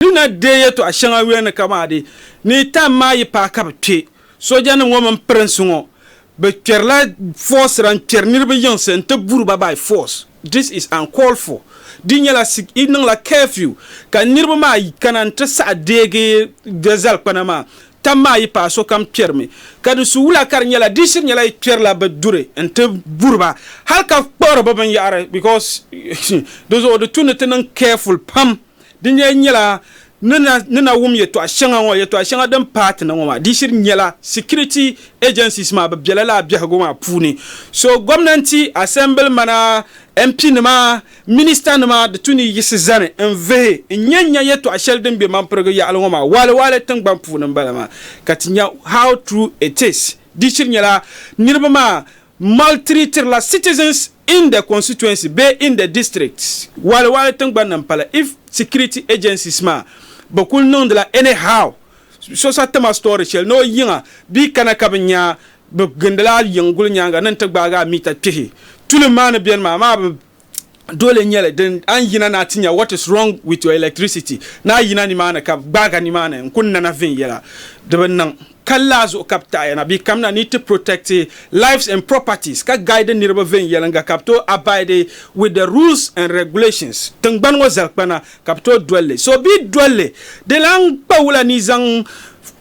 Di na deei yɛtɔɣ shɛŋa yuya ni kamadi, Ni yi tam maa yi paai ka bɛ kpe. Soojanim ŋɔ mini pirinsi ŋɔ bɛ kpɛrila fɔɔsira n-kpɛri niriba yiŋsi nti buri ba by force. This is uncalled for. Di nyɛla sik yi niŋla curfew ka niriba maa kana nti saɣi deegi bɛ zalikpana maa. Tam maa yi paai sokam kpɛrimi. Ka di su wula ka di nyɛla di shiri nyɛla yi kpɛrila bɛ duri nti buri ba hali ka kpuɣiri bɛ binyɛhiri because di zuɣu di tu ni ti niŋ careful pam. Di ni yen nyela ni na ni na wum yetɔɣa sheŋa ŋɔ yetɔɣa sheŋa din paai ti ni ŋɔ maa di shiri nyela security agencies maa bɛ bela lala biɛhigu maa puuni so gomnanti assembly mana MP nima minister nima di tu ni yiɣisi zani n vihi n nya nya yetɔɣa sheli din be mampirigu yaɣali ŋɔ maa waali waali tingban puuni m bala maa ka ti nya how true it is di shiri nyela niriba maa Maltreatirila citizens in the constituency bee in the district waali waali tingbanni n pali if security agencies maa bi kuli niŋdila any how so sa tima story shɛli ni o yiŋa bee kana ka bi nya bi gindila a yiŋ guli nyaaŋa ni n ti gbaagi a mita kpihi tulim maa ni beni maa maa bi dole nyɛli din an yina na ti nya what is wrong with your electricity ni a yina nimaani ka gbaag a nimaani n kuni nana viɛnyɛla di bi niŋ kali la zuɣu ka bi taɣi ya na bɛ kamina ni ti protect lives and properties ka guide niriba viɛnyɛlinga ka bi tooi abide with the rules and regulations tingbani ŋɔ zalikpana Ka bɛ tooi dol li. So bi dol li, di lan kpa wula ni zaŋ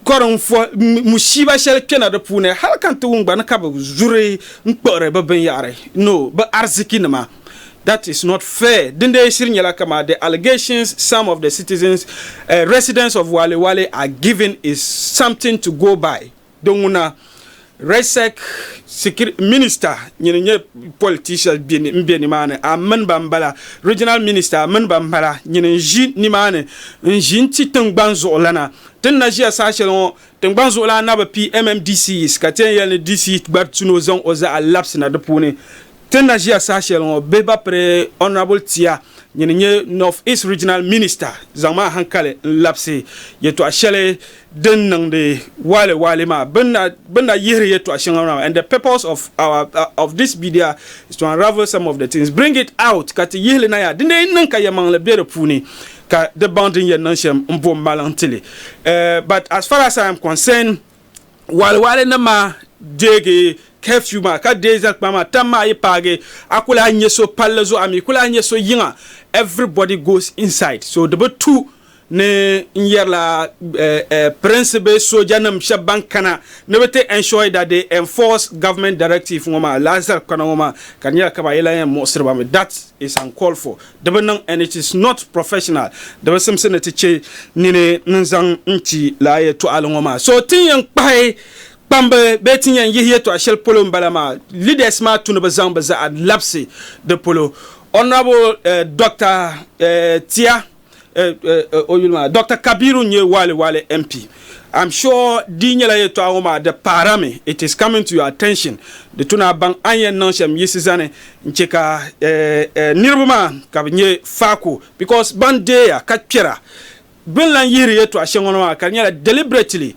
kɔri n-fuhi mushiiba shɛli kpɛna di puuni, hal ka n-ti wum gba ni ka bɛ zuri n-kpuɣiri bɛ binyɛhiri, no, bɛ arzikinima. That is not fair. Dindee shiri nyɛla kamaa the allegations some of the citizens, eh, residents of Wale Wale are giving is something to go by. Di ŋuna, Resec sikir minista nyini n-nyɛ politicia m-be nimaani a mini ba m-bala, Regional Minister mini ba m-bala nyini n-ʒi nimaani n-ʒi n-ti tiŋgbani zuɣulana. Ti ni na ʒiya saha shɛli ŋɔ, tiŋgbani zuɣulan na bi pii MMDCs ka ti yɛn yɛli ni DC gba ti ni o zaŋ o zaɣa labisina di puuni. Ti ni na ʒiya saha shɛli ŋɔ bihi ba piri Honourable Tia nyini nyɛ North East Regional Minister zaŋ maa hankali n labisi yɛtɔɣa shɛli din niŋdi waale waale maa bɛ ni na yihiri yɛtɔɣa shɛŋa maa and the purpose of our of this media is to unravel some of the things bring it out ka ti yihili na yaa dindee yɛn niŋ ka yɛmaŋli be di puuni ka di baŋ din yɛn niŋ shɛm m bo m maliŋ tili but as far as I am concerned Waɣiwaɣili nim maa deegi curfew maa ka deei zali kpaŋa maa tam maa yi paagi a ku lahi nyɛ so palli zuɣu a mi ku lahi nyɛ so yiŋa everybody goes inside so di bi tu ni n yɛrila pirinsi bee sooja nim shɛba ban kana ni bi ti ensure that they enforce government directive ŋɔ maa lahi zali kpana ŋɔ maa ka di nyɛla ka ba yi lahi yɛn muɣisiri ba mi that is uncalled for. Di bi niŋ and it is not professional, di bi simsi ni ti che nini n-zaŋ n-ti lala yɛltɔɣili ŋɔ maa. So ti ni yɛn kpahi kpambi bee ti ni yɛn yihi yɛltɔɣa shɛli polo m-bala maa, leaders maa tu ni bɛ zaŋ bɛ zaɣa labisi di polo. Honourable Doctor Tia Doctor Kabiru n nyɛ Wale Wale MP. I'm sure di nyɛla yɛltɔɣa ŋɔ maa di paɣirami, it is coming to your attention, di tu ni a baŋ a ni yɛn niŋ shɛm yiɣisi zani n chɛ ka niriba maa ka bɛ nyɛ faako because ban deeya ka kpɛra bɛ ni lan yihiri yɛltɔɣa shɛŋa ŋɔ maa ka di nyɛla deliberately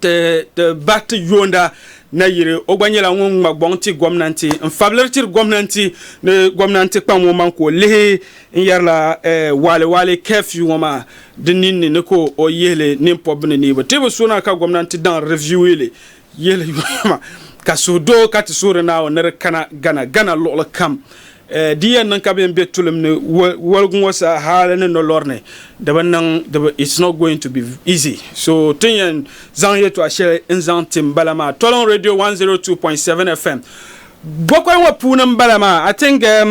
Ti ti bahi ti yoonda na yiri o gba nyɛla ŋun ŋma gɔŋ ti gomnanti n fabiliri tiri gomnanti ni gomnanti kpa ŋɔ maŋ ka o lihi n yɛrila waale waale curfew ŋɔ maa di ninni ni ka o yihili nin pɔbbu ni niibu ti bi so na ka gomnanti daŋ reviewili yihili yoyoma ka suhu doo ka ti suhiri Naawuni ni di kana Ghana Ghana luɣili kam Di yɛn niŋ ka bɛn be tulim ni woligu ŋɔ sa hali ni nolɔri ni di bi niŋ di bi it's not going to be easy so tin yɛn zaŋ yɛltɔɣa shɛli n zaŋ ti m bala maa Toliŋ Radio 102.7 FM Gokɔy ŋɔ puuni m bala maa I think um,